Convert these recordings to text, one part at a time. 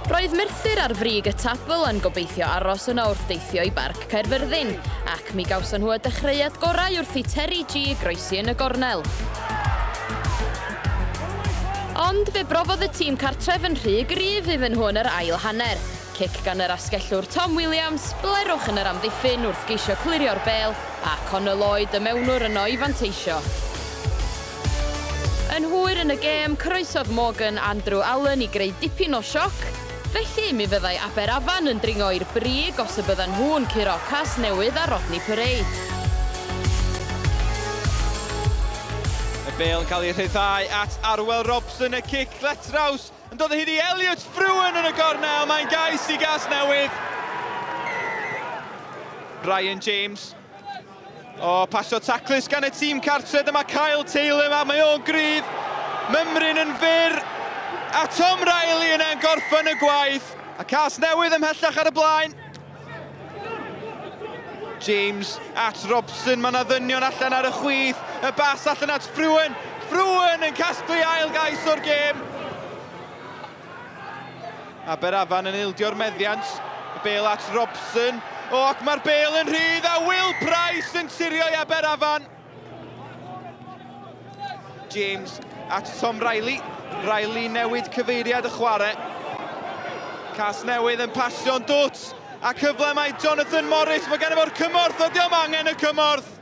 Roedd Merthyr ar frig y tabl yn gobeithio aros yno wrth deithio i Barc Caerfyrddin, ac mi gawson nhw y dechreuad gorau wrth i Terry G groesi yn y gornel. Ond fe brofodd y tîm cartref yn rhy gryf iddyn nhw yn yr ail hanner. Cic gan yr asgellwr Tom Williams, blerwch yn yr amddiffyn wrth geisio clirio'r bel, a Connor Lloyd y mewnwr yno i fanteisio. Yn hwyr yn y gêm, coroesodd Morgan Andrew Allen i greu dipyn o sioc, felly mi fyddai Aberafan yn dringo i'r brig os y byddan nhw'n curo Casnewydd a Rodney Parade. Y bêl yn cael ei rhyddhau at Arwel Robson, y cic letraws yn dod o hyd i Elliot Frewen yn y gornel, mae'n gais i Gasnewydd. Ryan James. O, pasio taclus gan y tîm cartre, dyma Kyle Taylor, a mae o'n gryf, mymryn yn fyr, a Tom Riley yna'n gorffen y gwaith. A cas newydd ymhellach ar y blaen. James at Robson, mae yna ddynion allan ar y chwith, y bas allan at Ffruen, Ffruen yn casglu ail gais o'r gêm. Aberafan yn ildio'r meddiant, y bel at Robson, o ac mae'r bel yn rhydd a Will Price yn sirio i Aberafan. James at Tom Riley. Riley newid cyfeiriad y chwarae. Cas newydd yn pasio'n dwt. A cyfle mae Jonathan Morris. Mae gen i fo'r cymorth. Ydy o'm angen y cymorth.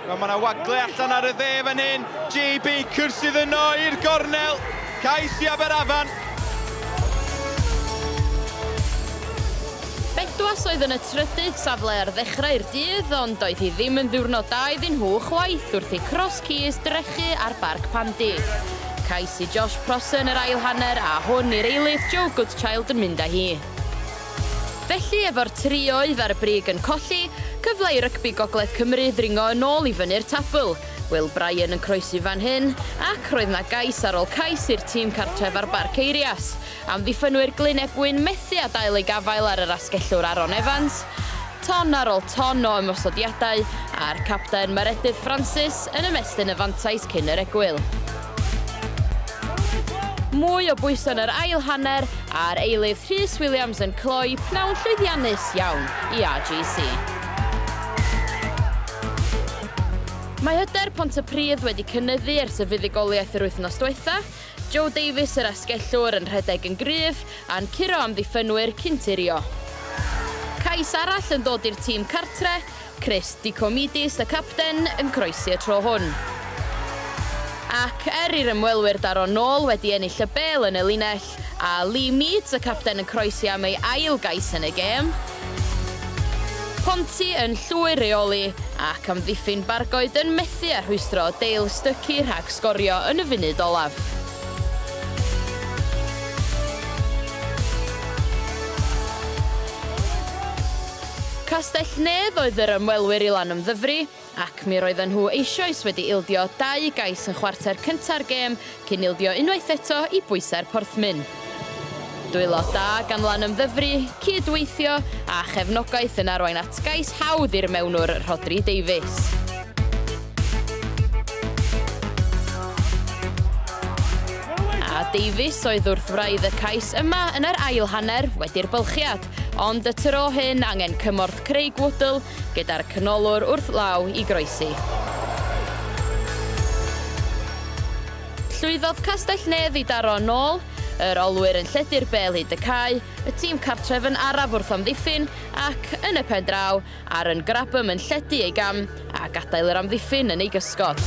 Wel, mae yna wagle allan ar y dde fan hyn. JB cyrsydd yno i'r gornel. Cais i Aberafan. Bedwas oedd yn y trydydd safle ar ddechrau'r dydd ond doedd hi ddim yn ddiwrnod da iddyn nhw chwaith wrth i Cross Keys drechu ar Barc Pandy. Cais i Josh Prosser yn yr ail hanner a hwn i'r eilydd, Joe Goodchild yn mynd â hi. Felly, efo'r tri oedd ar y brig yn colli, cyfle i rygbi Gogledd Cymru ddringo yn ôl i fyny'r tabl. Will Bryan yn croesi fan hyn, ac roedd 'na gais ar ôl cais i'r tîm cartref ar Barc Eirias. Amddiffynnwyr Glyn Ebwyn methu â dail eu gafael ar yr asgellwr Aaron Evans. Ton ar ôl ton o ymosodiadau, a'r capten Maredudd Francis yn ymestyn y fantais cyn yr egwyl. Mwy o bwyso yn yr ail hanner a'r eilydd Rhys Williams yn cloi pnawn llwyddiannus iawn i RGC. Mae hyder Pontypridd wedi cynyddu ers y fuddugoliaeth yr wythnos diwetha', Joe Davies yr asgellwr yn rhedeg yn gryf a'n curo amddiffynwyr cyn tirio. Cais arall yn dod i'r tîm cartre, Chris Dicomidis y capten yn croesi y tro hwn. Ac er i'r ymwelwyr daro nôl wedi ennill y bêl yn y linell, a Lee Meads y capten yn croesi am ei ail gais yn y gêm, Ponty yn llwyr reoli ac amddiffyn Bargoed yn methu â rhwystro Dale Stuckey rhag sgorio yn y funud olaf. Castell-nedd oedd yr ymwelwyr i Lanymddyfri, ac mi roedden nhw eisioes wedi ildio dau gais yn chwarter cynta'r gêm cyn ildio unwaith eto i bwysau'r Porthmyn. Dwylo da gan Lanymddyfri, cyd-weithio, a chefnogaeth yn arwain at gais hawdd i'r mewnwr Rhodri Davies. A Davies oedd wrth wraidd y cais yma yn yr ail hanner wedi'r bylchiad. Ond y tro hyn angen cymorth Craig Woodall gyda'r canolwr wrth law i groesi. Llwyddodd Castell-nedd i daro yn ôl, yr olwyr yn lledu'r bêl hyd y cae, y tîm cartref yn araf wrth amddiffyn ac, yn y pen draw, Ar yn Grabham yn lledu ei gam a gadael yr amddiffyn yn ei gysgod.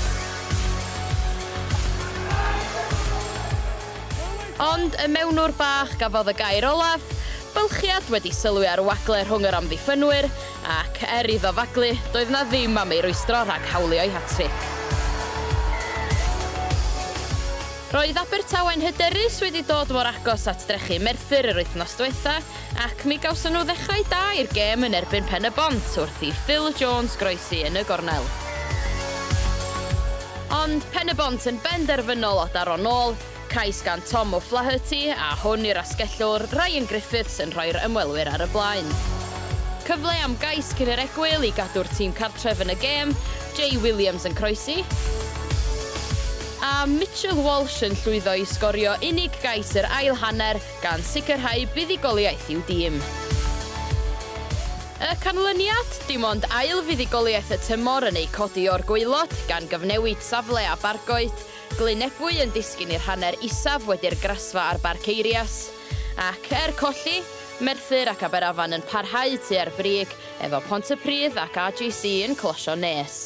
Ond y mewnwr bach gafodd y gair olaf, bylchiad wedi sylwi ar wagle rhwng yr amddiffynwyr, ac er iddo faglu, doedd 'na ddim am ei rwystro rhag hawlio'i hat-tric. Roedd Abertawe'n hyderus wedi dod mor agos at drechu Merthyr yr wythnos dwetha, Ac mi gawson nhw ddechrau da i'r gêm yn erbyn Pen-y-bont wrth i Phil Jones groesi yn y gornel. Ond Pen-y-bont yn benderfynol o daro'n ôl, cais gan Tom O'Flaherty a hwn i'r asgellwr Ryan Griffiths yn rhoi'r ymwelwyr ar y blaen. Cyfle am gais cyn i'r egwyl i gadw'r tîm cartref yn y gêm, Jay Williams yn croesi, a Mitchell Walsh yn llwyddo i sgorio unig gais yr ail hanner gan sicrhau buddugoliaeth i'w dîm. Y canlyniad? Dim ond ail fuddugoliaeth y tymor yn eu codi o'r gwaelod, gan gyfnewid safle a Bargoed, Glyn Ebwy yn disgyn i'r hanner isaf wedi'r grasfa ar Barc Eirias. Ac, er colli, Merthyr ac Aberafan yn parhau tua'r brig, efo Pontypridd ac AGC yn closio'n nes.